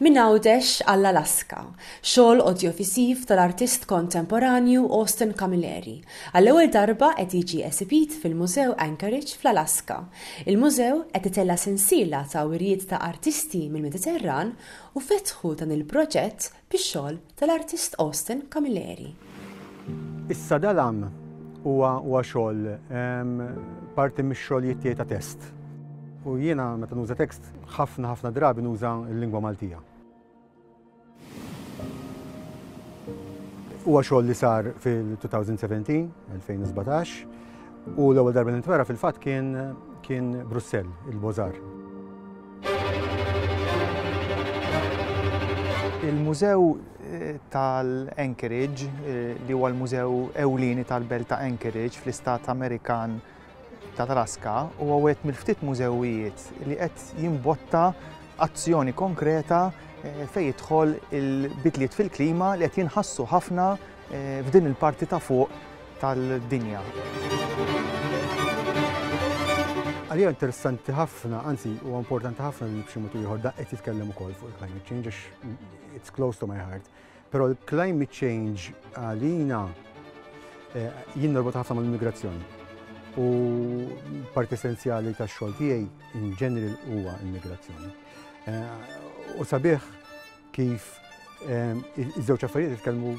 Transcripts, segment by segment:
Minn Għawdex għall-Alaska, xogħol odjovisiv tal-artist kontemporanju Austin Camilleri, għall-ewwel darba qed jiġi esibit fil-Mużew Anchorage fl-Alaska. Il-mużew qed itella' sensiela ta' wirjiet ta' artisti mill-Mediterran u fetħu dan il-proġett bix-xogħol tal-artist Austin Camilleri. Issa dal-għam huwa huwa xogħol parti mix-xogħlijiet tiegħi ta' test. U jiena meta nuża tekst ħafna ħafna drabi nuża l-lingwa Maltija. Huwa xogħol li sar fil-2017, 2017, u l-ewwel darba nintwera fil-fatt kien kien Brussell, il-Bozar. Il-Mużew tal-Anchorage, li huwa l-mużew ewlieni tal-belt ta' Anchorage fl-istat Amerikan ta' Alaska, huwa wieħed mill-ftit mużewijiet li qed jimbotta azzjoni konkreta fejn jidħol il-bidliet fil-klima li qed jinħassu ħafna f'din il-parti ta' fuq tal-dinja. Għalija interessanti ħafna, anzi huwa importanti ħafna li b'xi mod ieħor da qed jitkellem ukoll fuq il-climate change għax it's close to my heart. Però l-climate change għalina eh, jien norbot ħafna mal-immigrazzjoni. U parti essenzjali tax xogħol tiegħi in ġeneril huwa immigrazzjoni. Eh, u sabiħ Kif iż-żewġ affarijiet jitkellmu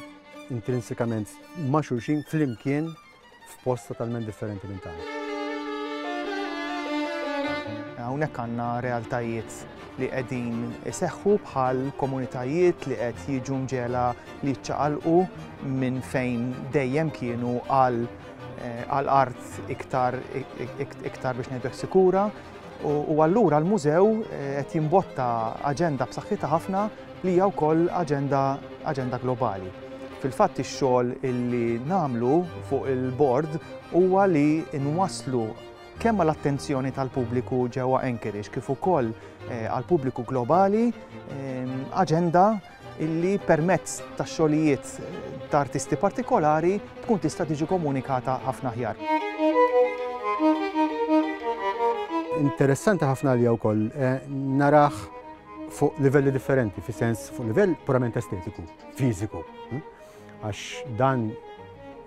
intrinsikament ma' xulxin flimkien f'post totalment differenti minn tagħna. Hawnhekk għandna realtajiet li qegħdin iseħħu bħal komunitajiet li qed jiġu mġela li ċċaqalqu minn fejn dejjem kienu għal eh, art iktar iktar biex ngħidlek sikura U allura l-mużew qed jimbotta aġenda b'saħħitha ħafna li hija wkoll aġenda aġenda globali. Fil-fatt ix-xogħol illi nagħmlu fuq il-bord huwa li nwasslu kemm għal attenzjoni tal-pubbliku ġewwa Anchorage kif ukoll għal pubbliku globali aġenda illi permezz ta' xogħlijiet ta' artisti partikolari tkun tista' tiġi komunikata ħafna aħjar. Interessanti ħafna għalija wkoll eh, narah fuq livelli differenti, fi sens fuq livell purament estetiku, fiżiku. Hm? Għax dan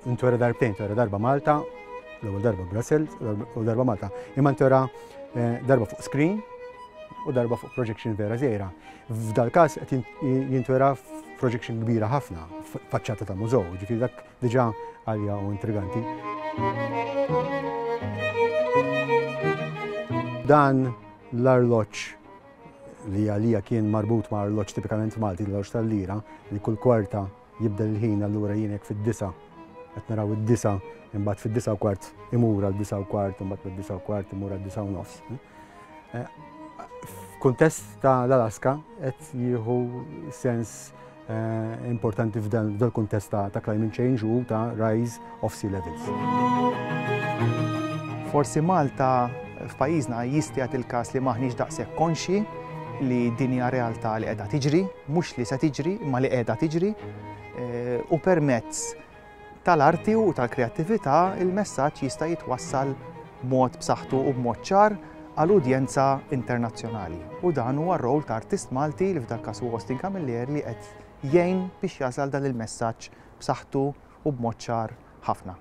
intwera darbtejn, intwera darba Malta, l-ewwel darba Brussels, u darba Malta. Imma intwera eh, darba fuq screen u darba fuq projection vera zejra. F'dal-każ qed jintwera projection kbira ħafna faċċata ta' mużew, ġifieri dak diġà għalja u intriganti. Dan l-arloġġ li għalija kien marbut ma' arloġġ tipikament Malti, l-arloġġ tal-lira, li kull kwarta jibdel il-ħin, allura jien hekk fid-disa' qed naraw id-disa' imbagħad fid-disa' u kwart imur għal disa' u kwart imbagħad mid-disa' u kwart imur għal disa' u nofs. Eh, f'kuntest ta' l-Alaska qed jieħu sens Eh, importanti f'dan il-kuntest ta' climate change u ta' rise of sea levels. Forsi Malta f'pajjiżna jistgħet il-każ li maħniex daqshekk konxi li din hija realtà li qiegħda tiġri, mhux li se tiġri, imma li qiegħda tiġri, eh, u permezz tal-arti u tal-kreattività, il-messaġġ jista' jitwassal b'mod b'saħħtu u b'mod ċar għal udjenza internazzjonali. U dan huwa r-role ta' artist Malti, li f'dal-każ huwa Austin Camillier, li qed jgħin biex jasal dan il-messaġġ b'saħħtu u b'mod ċar ħafna.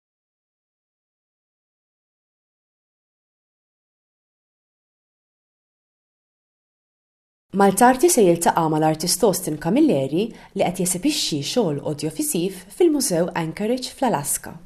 Maltarti se jiltaqa' mal-artist Austin Camilleri li qed jesibixxi xogħol odjofisiv fil-Mużew Anchorage fl-Alaska.